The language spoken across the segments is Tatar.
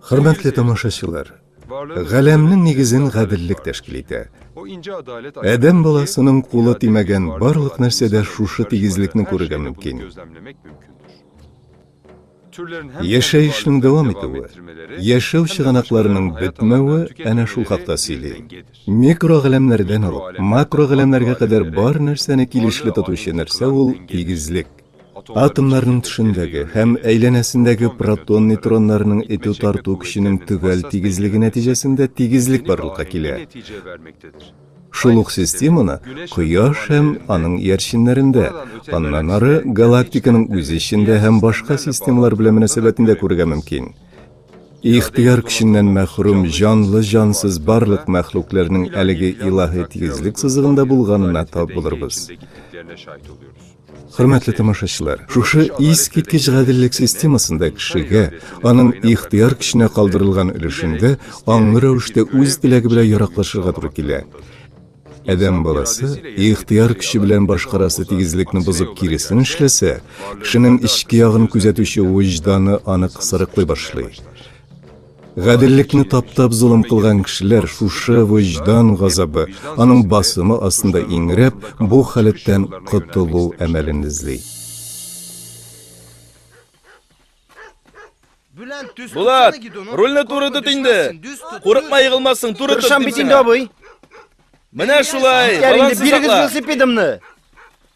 Хөрмәтле тамашачылар, галәмнең нигезен гаделлек тәшкил итә. Адәм баласының кулы тимәгән барлык нәрсәдә шушы тигезлекне күрергә мөмкин. Яшәешнең дәвам итүе, яшәү чыганакларының бетмәве әнә шул хакта сөйли. Микрогаләмнәрдән алып, макрогаләмнәргә кадәр бар нәрсәне килешле тотучы нәрсә ул тигезлек. Атомнарның тышындагы һәм әйләнәсендәге протон-нейтроннарның этү-тарту көченең төгәл тигезлеге нәтиҗәсендә тигезлек барлыкка килә. Шул ук системаны Кояш һәм аның иярченнәрендә, аннан ары галактиканың үзе эчендә һәм башка системалар белән мөнәсәбәтендә күрергә мөмкин. Ихтыяр көченнән мәхрүм җанлы-җансыз барлык мәхлукләрнең әлеге илаһи тигезлек сызыгында булганына тап булырбыз. Хөрмәтле тамашачылар, шушы искиткеч гаделлек системасында кешегә, аның ихтыяр көченә калдырылган өлешендә аңлы рәвештә үз теләге белән яраклашырга туры килә. Адәм баласы ихтыяр көче белән башкарасы тигезлекне бозып киресен эшләсә, кешенең эчке ягын күзәтүче вөҗданы аны кысырыклый башлый. Гаделлекне таптап золым кылган кешеләр шушы вөҗдан газабы, аның басымы астында иңрәп, бу халәттән котылу әмәлен эзли. Булат, рульне туры тот инде. Курыкма егылмассың, туры тот. Тырышам бит инде, абый. Менә шулай. Бирегез велосипедымны.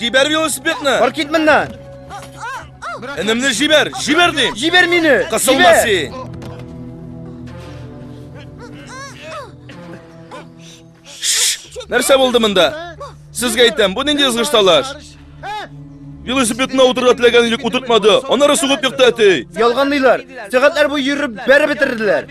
Җибәр велосипедны! Бар кит моннан! Энемне җибәр! Җибәр дим! Җибәр мине! Кысылма син! Нәрсә булды монда? Сезгә әйтәм, бу нинди ызгыш талаш? Велосипедына утырырга теләгән идек, утыртмады. Аннары сугып екты әти. Ялганлыйлар. Сәгатьләр буе йөреп бәреп бетерделәр.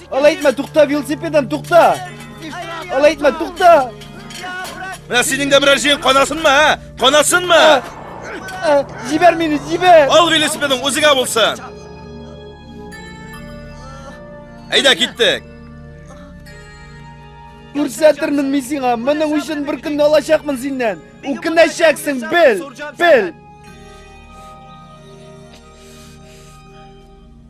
Алай итмә, тукта, велосипедым, тукта! Алай итмә, тукта! Менә синең дә берәр җиен канасынмы, ә? Канасынмы? Җибәр мине, җибәр! Ал велосипедың үзегә булсын! Әйдә, киттек! Күрсәтермен мин сиңа, моның өчен бер көнне алачакмын синнән. Үкенәчәксең, бел, бел.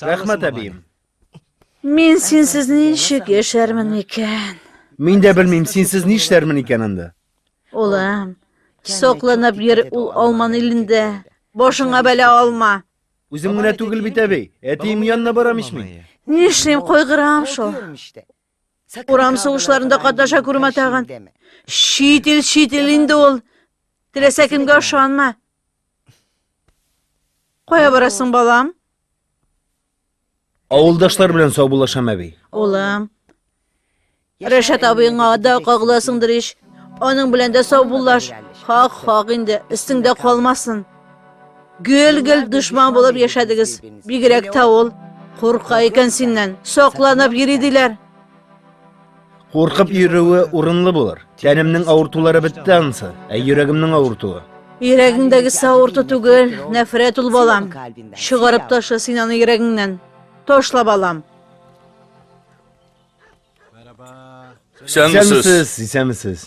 Рәхмәт, әбием. Мин синсез ничек яшәрмен икән? Мин дә белмим, синсез нишләрмен икән анда. Улым, сокланып йөр ул алман илендә. Башыңа бәлә алма. Үзем генә түгел бит, әби. Әтием янына барам ич мин. Нишлим, кайгырам шул. Урам сугышларында катнаша күрмә тагын. Чит ил, чит ил инде ул. Теләсә кемгә ышанма. Кая барасың, балам? Авылдашлар белән саубуллашам, әби. Улым. Рәшат абыеңа да кагыласыңдыр ич. Аның белән дә саубуллаш. Хак, хак инде, өстеңдә калмасын. Гел-гел дошман булып яшәдегез. Бигрәк тә ул курка икән синнән. Сокланып йөри диләр. Куркып йөрүе урынлы булыр. Тәнемнең авыртулары бетте ансы, ә йөрәгемнең авыртуы. Йөрәгеңдәге савырту түгел, нәфрәт ул балам. Чыгарып ташла син аны йөрәгеңнән. Ташла балам. Исәнмесез, исәнмесез.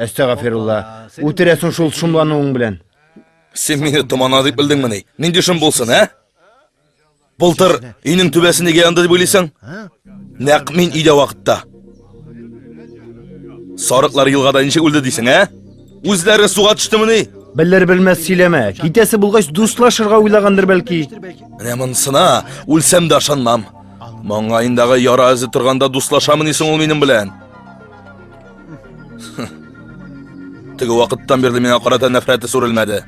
Әстәгафирулла, үтерәсең шул шомлануың белән. Син мине томана дип белдеңмени? Нинди шом булсын, ә? Былтыр өйнең түбәсе нигә янды дип уйлыйсың? Нәкъ мин өйдә вакытта. Сарыклар елгада ничек үлде дисең, ә? Үзләре суга төштемени? Белер белмәс сөйләмә. Китәсе булгач дуслашырга уйлагандыр бәлки. Менә монсына үлсәм дә ышанмам. Маңгаендагы яра эзе торганда дуслашамыни соң ул минем белән? Теге вакыттан бирле миңа карата нәфрәте сүрелмәде.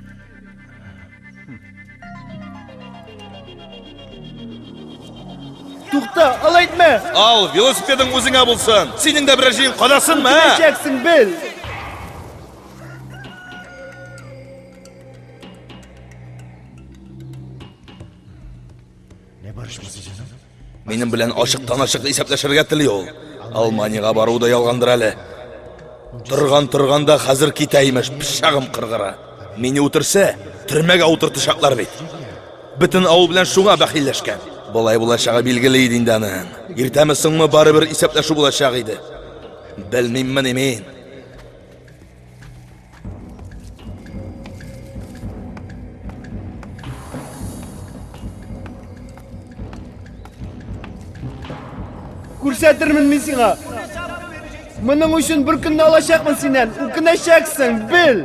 Тукта, алай итмә! Ал, велосипедың үзеңә булсын. Синең дә берәр җыен кадасынмы? Киләчәксең бел. Минем белән ачыктан-ачык исәпләшергә тели ул. Алманиягә бару да ялгандыр әле. Торган-торган да хәзер китә имеш, пычагым кыргыра. Мине үтерсә, төрмәгә утыртачаклар бит. Бөтен авыл белән шуңа бәхилләшкән. Болай булачагы билгеле иде инде аның. Иртәме соңмы барыбер исәпләшү булачак иде. Белмиммени мин. Күрсәтермен мин сиңа. Моның өчен бер көнне алачакмын синнән. Үкенәчәксең, бел.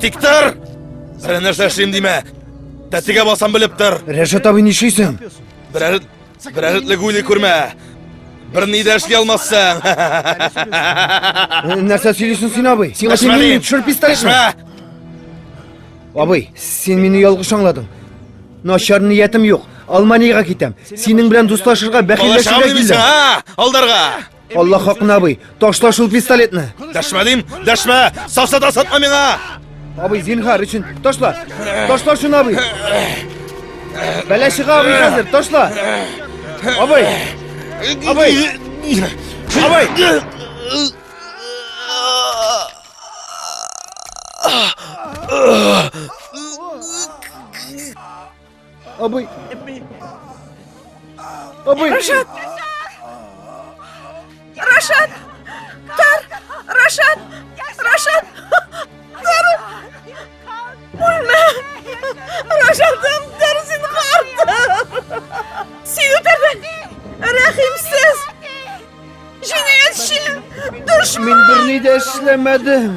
Тик тор! Сәләнәшәшим димә! Тәтегә басам белеп тор! Рәшат абый нишлисең? Берәр Берәр этлек уйлый күрмә. Бер ни дә эшли алмассың. Нәрсә сөйлисең син, абый? Сиңа син мине төшереп пистолетны. Абый, син мине ялгыш аңладың. Начар ниятем юк. Алманиягә китәм. Синең белән дуслашырга, бәхилләшергә килдем. Алдарга! Алла хакына абый, ташла шул пистолетны. Дәшмә дим, дәшмә, саса да сатма миңа. Абый, зинхар өчен, ташла. Ташла шуны абый. Бәлә чыга абый хәзер, ташла. Абый. Абый. Абый. Абый. Абый! Абый! Рашат! Рашат! Тар! Рашат! Рашат! Тар! Үлмә! Рашатым, тар син карты! Син үтерден! Рәхимсез! Җинаятьче! Дошман! Мин берни дә эшләмәдем!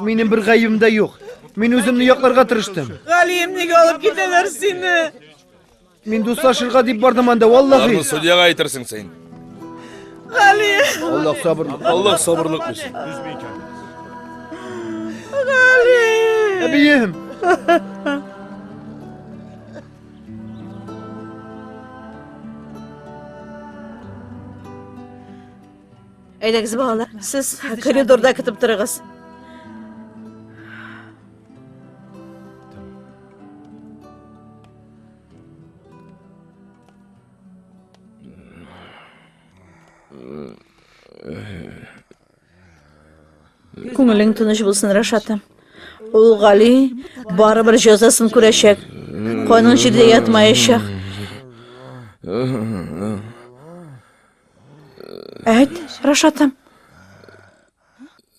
Минем бер гаебем дә юк. Мин үземне якларга тырыштым. Галием, нигә алып китәләр сине? Мин дуслашырга дип бардым анда, валлахи. Бармы судьяга әйтерсең син. Галием. Аллах сабырлык. Аллах сабырлык бирсен. Галием. Әбием. Әйдәгез, балалар, сез коридорда көтеп торыгыз. Күңелең тыныч булсын, Рашатым. Ул Гали барыбер җәзасын күрәчәк. Каның җирдә ятмаячак. Әйт, Рашатым.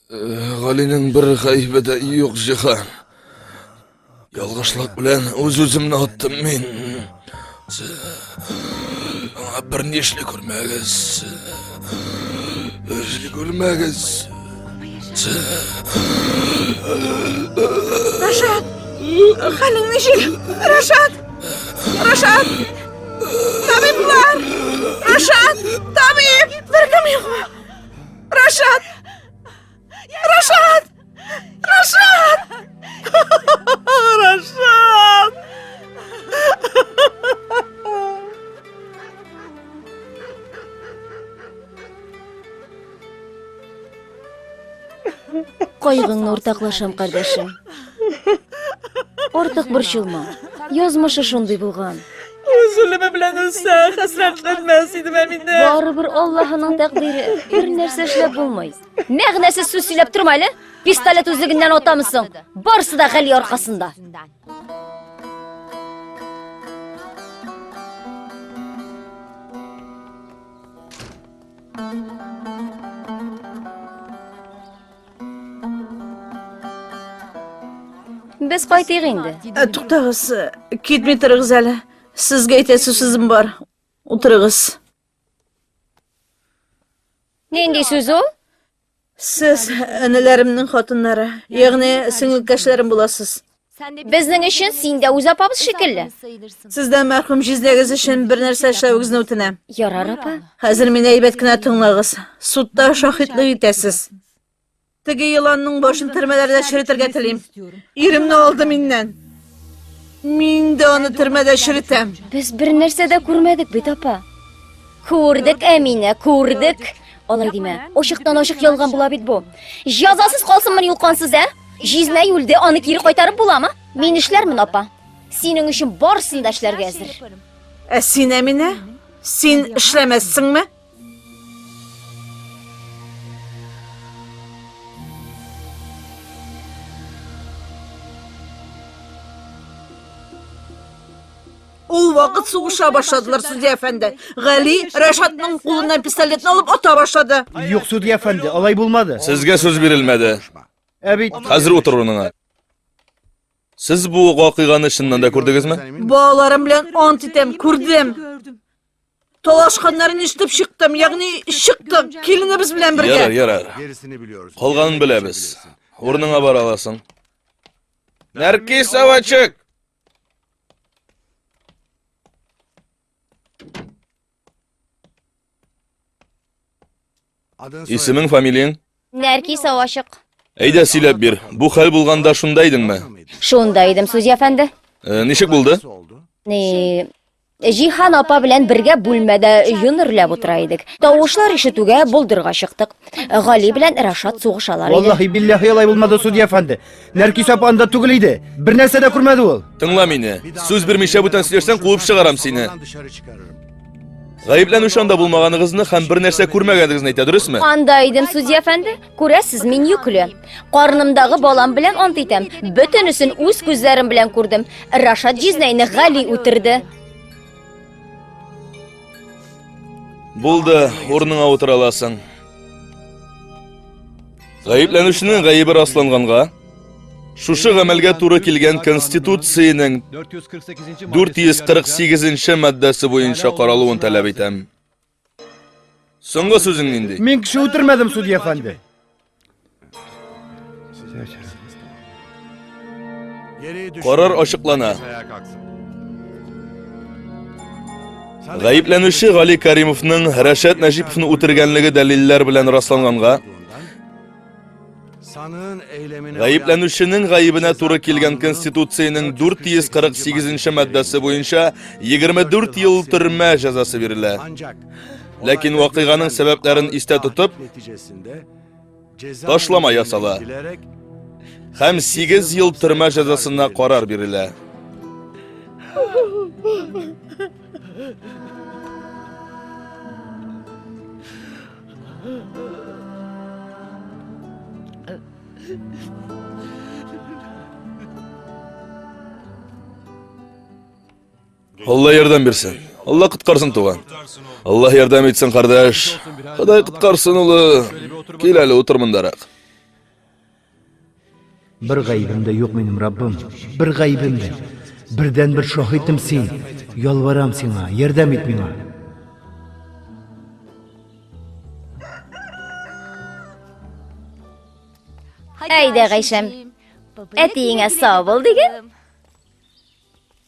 Галинең бер гаебе дә юк, Җиһан. Ялгышлык белән үз-үземне аттым мин. Аңа бер нишле күрмәгез. Нишле күрмәгез. Рашат! Хәлең ничек? Рашат! Рашат! Табиблар! Рашат! Табиб! Беркем юкмы? Рашат! Рашат! Рашат! Рашат! Кайгыңны уртаклашам, кардәшем. Артык борчылма. Язмышы шундый булган. Үз үлеме белән үлсә, хәсрәтләнмәс идем ә мин дә. Барыбер Аллаһының тәкъдире. Бер нәрсә эшләп булмый. Мәгънәсез сүз сөйләп торма әле. Пистолет үзлегеннән атамысың. Барсы да Гали аркасында. Без кайтыйк инде. Ә, туктагыз, китми торыгыз әле. Сезгә әйтәсе сүзем бар. Утырыгыз. Нинди сүз ул? Сез әниләремнең хатыннары, ягъни сеңелкәшләрем буласыз. Безнең өчен син дә үз апабыз шикелле. Сездән мәрхүм җизнәгез өчен бер нәрсә эшләвегезне үтенәм. Ярар, апа. Хәзер мине әйбәт кенә тыңлагыз. Судта шаһитлык итәсез. Теге еланның башын төрмәләрдә черетергә телим. Иремне алды миннән. Мин дә аны төрмәдә черетәм. Без бер нәрсә дә күрмәдек бит, апа. Күрдек, Әминә, күрдек. Алай димә. Ошыктан ошык ялган була бит бу. Җазасыз калсынмы юл кансыз, ә? Җизнә юлде, аны кире кайтарып буламы? Мин эшләрмен, апа. Синең өчен барысын да эшләргә әзер. Ә син, Әминә? Син эшләмәссеңме? Ул вакыт сугыша башладылар, судья әфәнде. Гали Рәшатның кулыннан пистолетны алып ата башлады. Юк, судья әфәнде, алай булмады. Сезгә сүз бирелмәде. Ә бит... Хәзер утыр урыныңа. Сез бу вакыйганы чыннан да күрдегезме? Балаларым белән ант итәм, күрдем. Талашканнарын ишетеп чыктым, ягъни чыктык, киленебез белән бергә. Ярар, ярар. Калганын беләбез. Урыныңа бара аласың. Нәркис Авачык! Исемең, фамилияң? Нәркис Авачык. Әйдә, сөйләп бир. Бу хәл булганда шунда идеңме? Шунда идем, судья әфәнде. Э, ничек булды? Ни, Җиһан апа белән бергә бүлмәдә йонерләп утыра идек. Тавышлар ишетүгә болдырга чыктык. Гали белән Рашат сугышалар иде. Валлахи биллахи алай булмады, судья әфәнде. Нәркис апа анда түгел иде. Бер нәрсә дә күрмәде ул. Тыңла мине. Сүз бирмичә бүтән сөйләсәң, куып чыгарам сине. Гаепләнүче анда булмаганыгызны һәм бер нәрсә күрмәгәнегезне әйтә, дөресме? Анда идем, судья әфәнде. Күрәсез, мин йөкле. Карнымдагы балам белән ант итәм. Бөтенесен үз күзләрем белән күрдем. Рашат Җизнәйне Гали үтерде. Булды, урыныңа утыра аласың. Гаепләнүченең гаебе расланганга, Шушы гамәлгә туры килгән Конституциянең 448-нче маддәсе буенча каралуын таләп итәм. Соңгы сүзең нинди? Мин кеше үтермәдем, судья әфәнде. Карар ачыклана. Гаепләнүче Гали Каримовның Рәшәт Нәҗиповны үтергәнлеге дәлилләр белән расланганга, Гаепләнүченең гаебенә туры килгән Конституциянең 448 маддасы буенча 24 ел төрмә җәзасы бирелә. Ләкин вакыйганың сәбәпләрен истә тотып, ташлама ясала һәм 8 ел төрмә җәзасына карар бирелә. Алла ярдәм бирсен. Алла коткарсын, туган. Алла ярдәм итсен, кардәш. Ходай коткарсын, улы. Кил әле, утыр мондарак. Бер гаебем дә юк минем, Раббым. Бер гаебем дә. Бердән бер шаһитем син. Ялварам сиңа, ярдәм ит миңа. Әйдә, Гайшәм. Әтиеңә сау бул диген.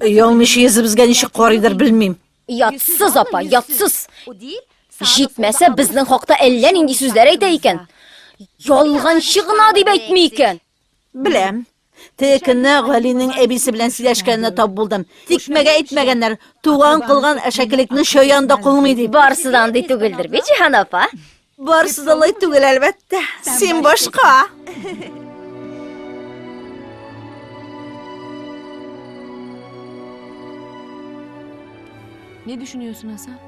Ялмыш езебезгә ничек карыйдыр белмим. Ятсыз апа, ятсыз. Җитмәсә безнең хакта әллә нинди сүзләр әйтә икән. Ялганчы гына дип әйтми икән. Беләм. Тек кенә Галинең әбисе белән сөйләшкәненә тап булдым. Тикмәгә әйтмәгәннәр, туган кылган әшәкелекне чаян да кылмый дип. Барысы да андый түгелдер бит, Җиһан апа. Барысы да алай түгел, әлбәттә. Син башка. Не düşünüyorsun Hasan?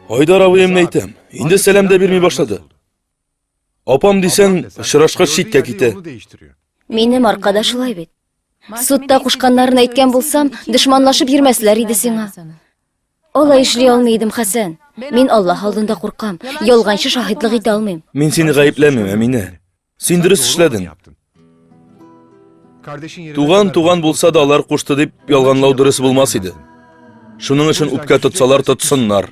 Айдар абыем әйтәм, инде сәлам дә бирми башлады. Апам дисәң, очрашкач читкә китә. Минем арка да шулай бит. Судта кушканнарын әйткән булсам, дошманлашып йөрмәсләр иде сиңа. Алай эшли алмый идем, Хәсән. Мин Аллаһ алдында куркам, ялганчы шаһитлык итә алмыйм. Мин сине гаепләмим, Әминә. Син дөрес эшләдең. Туган, туган булса да алар кушты дип ялганлау дөрес булмас иде. Шуның өчен үпкә тотсалар тотсыннар.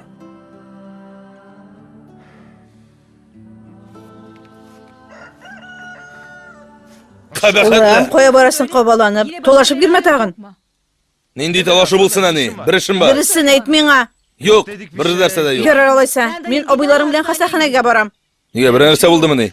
Улым, кая барасың кабаланып? Толашып кирмә тагын. Нинди талашу булсын әни? Бер эшем бар. Дөресен әйт миңа. Юк, бер нәрсә дә юк. Ярар алайса. Мин абыйларым белән хастаханәгә барам. Нигә бер нәрсә булдымы ни?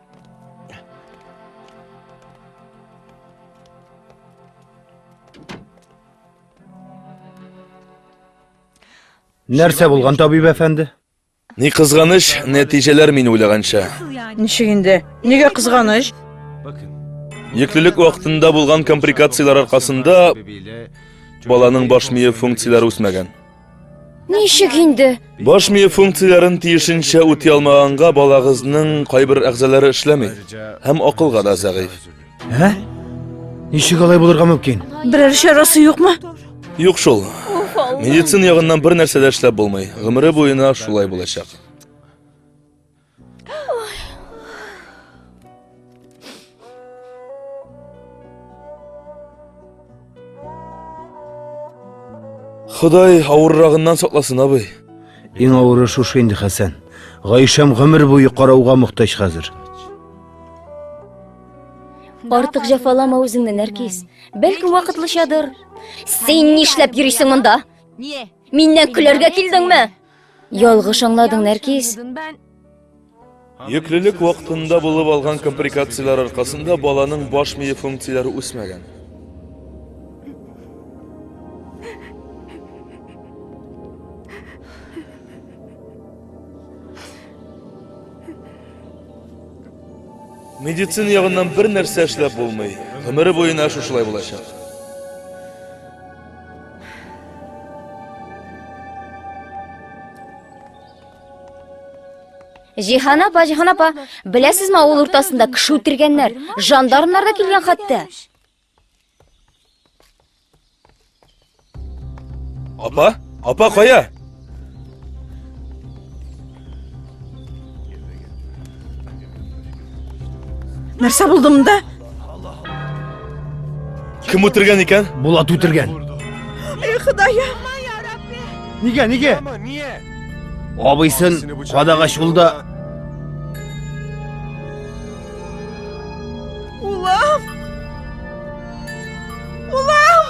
Нәрсә булган, табиб әфәнде? Ни кызганыч, нәтиҗәләр мин уйлаганча. Ничек инде? Нигә кызганыч? Йөклелек вакытында булган комприкацияләр аркасында баланың баш мие функцияләре үсмәгән. Ничек инде? Баш мие функцияләрен тиешенчә үти алмаганга балагызның кайбер әгъзалары эшләми һәм акылга да зәгыйфь. Ә? Ничек алай булырга мөмкин? Берәр чарасы юкмы? Юк шул. Медицина ягыннан бер нәрсә дә эшләп булмый. Гомере буена шулай булачак. Ходай авыррагыннан сакласын, абый. Иң авыры шушы инде, Хәсән. Гайшәм гомер буе карауга мохтаҗ хәзер. Артык җәфалама үзеңне, Нәркис. Бәлкем вакытлычадыр. Син нишләп йөрисең монда? Миннән көләргә килдеңме? Ялгыш аңладың, Нәркис. Йөклелек вакытында булып алган комприкацияләр аркасында баланың баш мие функцияләре үсмәгән. Медицина ягыннан бер нәрсә эшләп булмый. Гомере буена шушылай булачак. Җиһан апа, Җиһан апа, беләсезме, авыл уртасында кеше үтергәннәр, жандармнар да килгән хәтта. Апа, апа кая? Нәрсә булды монда? Кем үтергән икән? Булат үтергән. Эй, Ходаем! Нигә, нигә? Абыйсын кадага чулда. Улам! Улам!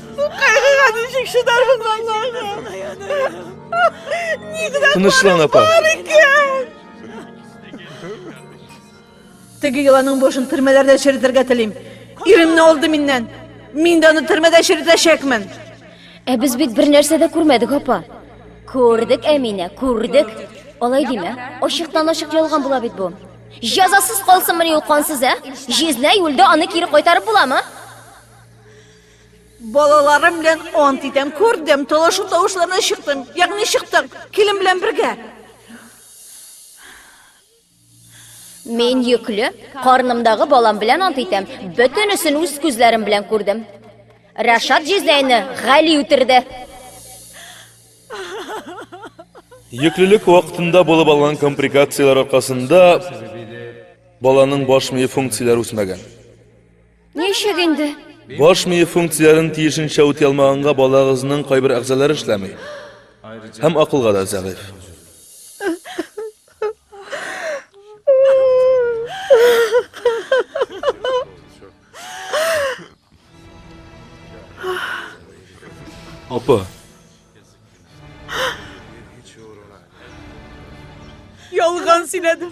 Тынычлан апа. Теге йоланың бошын төрмәләрдә черетергә телим. Иремне алды миннән. Мин дә аны төрмәдә черетәчәкмен. Ә без бит бер нәрсә дә күрмәдек, апа. Күрдек, Әминә, күрдек. Алай димә. Ачыктан ачык ялган була бит бу. Җәзасыз калсынмыни ул кансыз, ә? Җизнәй үлде, аны кире кайтарып буламы? Балаларым белән ант итәм, күрдем, талашу тавышларына чыктым. Ягъни чыктык, килен белән бергә. Мин йөкле, карнымдагы балам белән ант итәм, бөтенесен үз күзләрем белән күрдем. Рашат җизнәйне Гали үтерде. Йөклелек вакытында булып алган комприкацияләр аркасында баланың баш мие функцияләре үсмәгән. Ничек инде? Баш мие функцияләрен тиешенчә үти алмаганга балагызның кайбер әгъзалары эшләми. Һәм акылга да зәгыйфь. Апа. Ялган сөйләдем.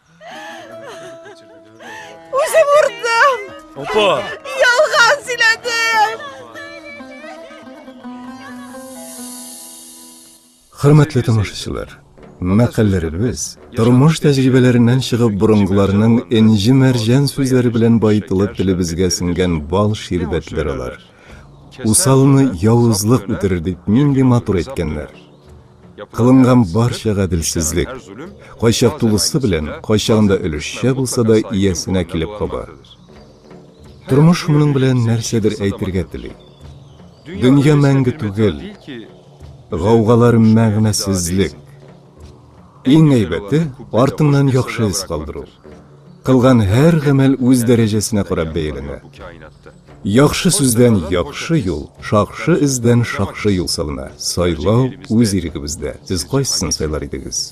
Үзем урдым. Опа. Ялган сөйләдем. Хөрмәтле тамашачылар, мәкальләребез тормыш тәҗрибәләреннән чыгып борынгыларның энҗе мәрҗән сүзләре белән баетылып телебезгә сеңгән бал ширбәтләр алар. Усалны явызлык үтерер дип нинди матур әйткәннәр. Кылынган барча гаделсезлек, кайчак тулысы белән, кайчагында өлешчә булса да, иясенә килеп каба. Тормыш моның белән нәрсәдер әйтергә тели. Дөнья мәңге түгел, гаугалар мәгънәсезлек. Иң әйбәте, артыңнан яхшы эз калдыру. Кылган һәр гамәл үз дәрәҗәсенә карап бәяләнә. Яхшы сүздән яхшы юл, шакшы эздән шакшы юл салына. Сайлау үз ирегебездә. Сез кайсысын сайлар идегез?